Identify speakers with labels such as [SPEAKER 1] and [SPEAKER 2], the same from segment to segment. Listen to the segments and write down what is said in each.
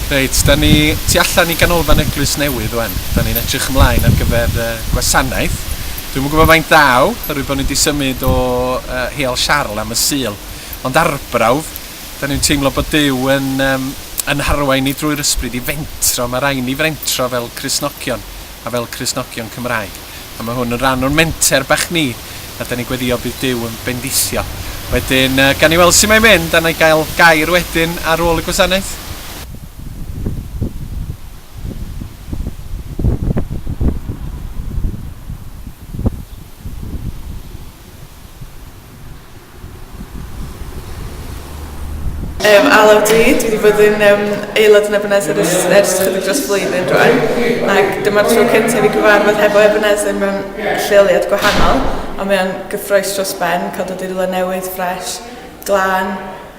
[SPEAKER 1] Reit, da ni tu allan i ganolfan Eglwys Newydd wan. Da ni'n edrych ymlaen ar gyfer uh, gwasanaeth. Dwi'n mwyn gwybod faint daw, oherwydd bod ni wedi symud o uh, Heol Siarl am y Sul. Ond arbrawf, da ni'n teimlo bod Dyw yn, um, yn harwain ni drwy'r ysbryd i fentro. Mae rhaid ni frentro fel Crisnogion. a fel Cristnogion Cymraeg, a mae hwn yn rhan o'n menter bach ni, a da ni'n gweddio bydd Duw yn bendithio. Wedyn, uh, gan i weld sy'n mae'n mynd, a na i gael gair wedyn ar ôl y gwasanaeth. Yym ala ydw i, dwi 'di bod yn yym aelod yn Ebenezer ers ers chydig dros flwyddyn rwan ac dyma'r tro cynta' i fi cyfarfod hefo Ebenezer mewn lleoliad gwahanol a mae o'n gyffrous dros ben ca'l dod i rywle newydd ffresh, glân,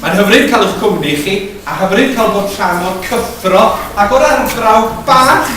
[SPEAKER 1] Mae'n hyfryd cael eich cwmni chi a hyfryd cael bod rhan o'r cyffro ac o'r arbrawf bach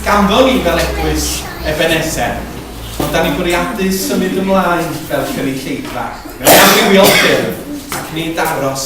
[SPEAKER 1] ganddo ni fel Eglwys Ebeneser, ond da ni'n bwriadu symud ymlaen fel cynulleidfa mewn amrywiol ffyrdd ac nid aros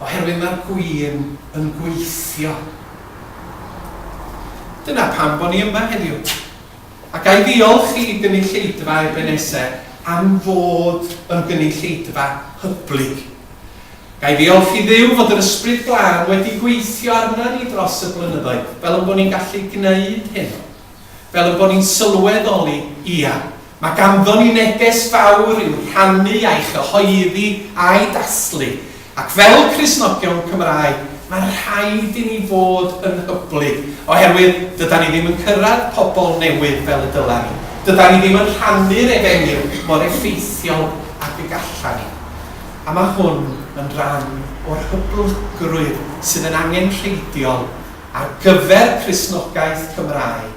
[SPEAKER 1] oherwydd mae'r gwin yn gweithio. Dyna pam bo ni yma heddiw. A ga i ddiolch i gynulleidfa Ebeneser am fod yn gynulleidfa hyblyg. Ga i ddiolch i Dduw fod yr Ysbryd Glân wedi gweithio arna ni dros y blynyddoedd, fel yn bo ni'n gallu gneud hyn. Fel yn bo ni'n sylweddoli, ia, Mae ganddon ni neges fawr i'w rhannu a'i chyhoeddi a'i dathlu, ac fel Cristnogion Cymraeg, mae rhaid i ni fod yn hyblyg, oherwydd dydan ni ddim yn cyrraedd pobl newydd fel y dyla ni, dydan ni ddim yn rhannu'r efengyl mor effeithiol ag y galla ni. A mae hwn yn ran o'r hyblygrwydd sydd yn angenrheidiol ar gyfer Cristnogaeth Cymraeg.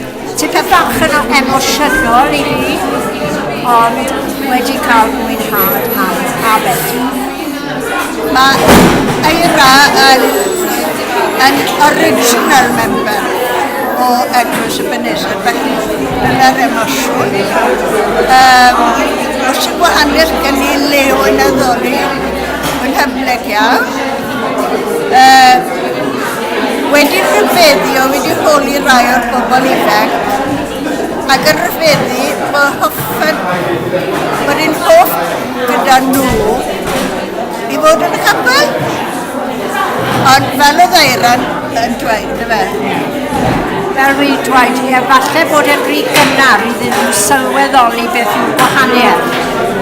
[SPEAKER 1] Tipyn bach yn emosiynol i fi, ond wedi cael mwynhad ar Abed. Mae Eira yn, yn original member o Eglwys y Benesod, felly dyna'r emosiwn. Um, os y gwahaniaeth gen i Leo yn addoli, yn hyfneg iawn. Uh, Wedi rhyfeddio, wedi holi rai o'r bobl ifanc ac yn rhyfeddu fy hoffed, fy rhin hoff gyda nhw i fod yn capel. Ond fel oedd Eiran yn dweud, y fe? Fel rhi dweud, ie, falle bod e'n rhi gynnar iddyn nhw sylweddoli beth yw'r gwahaniaeth.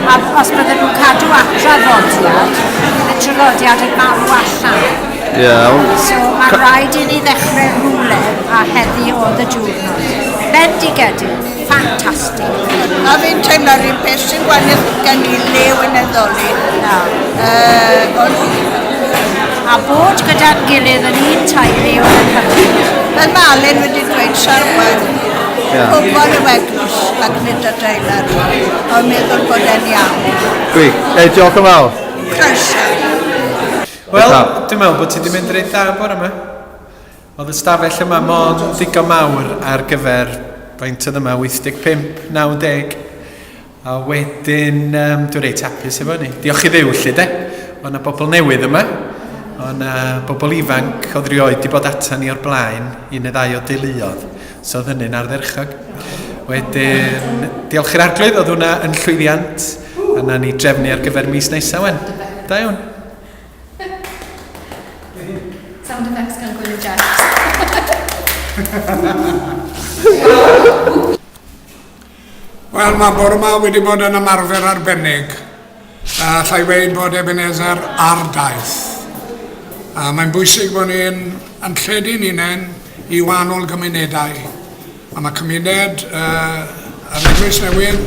[SPEAKER 1] A os bydden nhw'n cadw atra ddodiad, bydd y trylodiad yn marw allan. Iawn. So mae'n rhaid i ni ddechrau rhywle a heddi oedd y diwrnod. Bendigedig, ffantastig. A fi'n teimlo rhywun peth sy'n gwaniaeth gen i le yn eddoli. Na. Uh, ond... A bod gyda'n gilydd yn un tairi oedd yn hyfryd. Mae Malin wedi dweud sarwan. Yeah. Pobl y weglws ac nid y deilar. Ond meddwl bod e'n iawn. Gwych. Ei, diolch yn fawr. Croeso. Wel, dwi'n meddwl bod ti wedi mynd reit dda bore yma. Oedd y stafell yma mond ddigon mawr ar gyfer faint oedd yma, 85, 90. A wedyn, um, dwi'n reit hapus efo ni. Diolch i ddew, lle, de. Oedd yna bobl newydd yma. Oedd yna bobl ifanc oedd rioed wedi bod atan ni o'r blaen, un neu ddau o deuluodd. So oedd hynny'n ardderchog. Wedyn, diolch i'r arglwydd, oedd hwnna yn llwyddiant. A na ni drefnu ar gyfer mis nesaf, wen. Da iawn. Sound effects gan Gwyn Jacks. Wel, mae bore yma wedi bod yn ymarfer arbennig. Uh, allai weid bod Ebenezer ar daith. Uh, mae'n bwysig bod ni'n yn lledu'n unen i wahanol gymunedau. A mae cymuned uh, yr Eglwys Newydd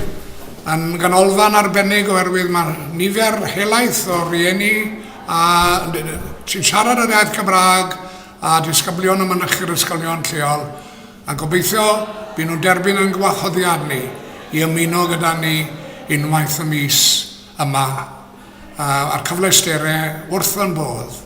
[SPEAKER 1] yn ganolfan arbennig oherwydd mae nifer helaeth o rieni a sy'n siarad yr iaith Cymraeg a disgyblion y mynychu'r ysgolion lleol A gobeithio by nhw'n derbyn ein gwahoddiad ni i ymuno gyda ni unwaith y mis yma a'r cyfleusterau wrth fy mhodd.